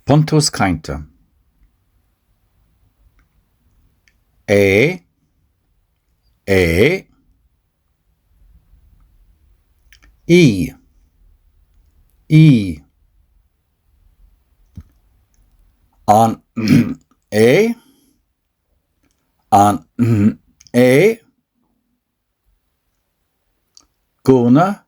Buntús Cainte A A E E An A An A Gúna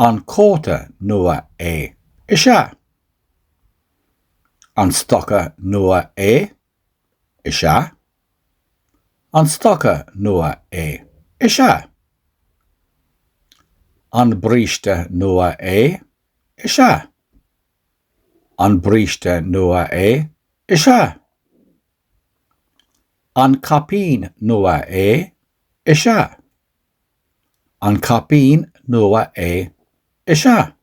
An cóta nua é? Is ea. An stoca nua é? Is ea. An stoca nua é? Is ea. An bríste nua é? Is ea. An bríste nua é? Is ea. An caipín nua é? Is ea. An caipín nua é? Is ea.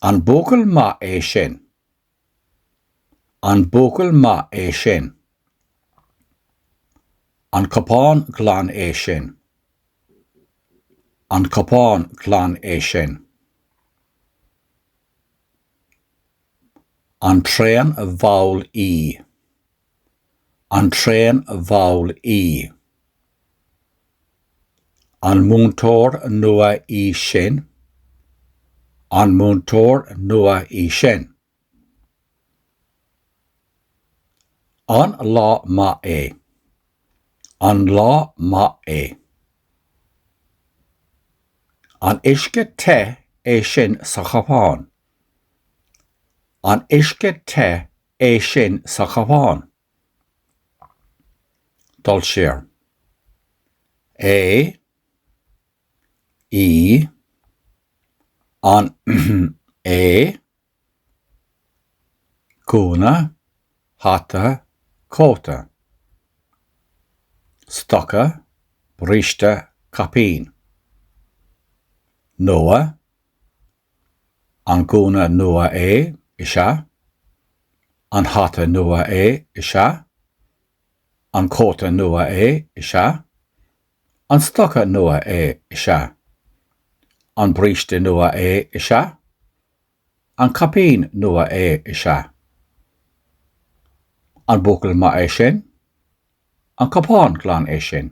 An buachaill maith é sin? An buachaill maith é sin? An cupán glan é sin? An cupán glan é sin? An traen mhall í? An traen mhall í? An múinteoir nua í sin? An múinteoir nua í sin? An lá maith é? An lá maith é? An uisce te é sin sa chupán? An uisce te é sin sa chupán. dul siar. é í an é gúna hata cóta stoca bríste caipín. nua An gúna nua é? Is ea. An hata nua é? Is ea. An cóta nua é? Is ea. An stoca nua é? Is ea. An bríste nua é? Is ea. An caipín nua é? Is ea. An buachaill maith é sin? An cupán glan é sin?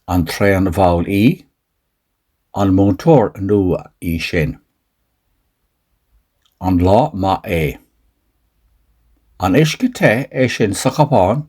An traen mhall í? An múinteoir nua í sin? An lá maith é? An uisce te é sin sa chupán?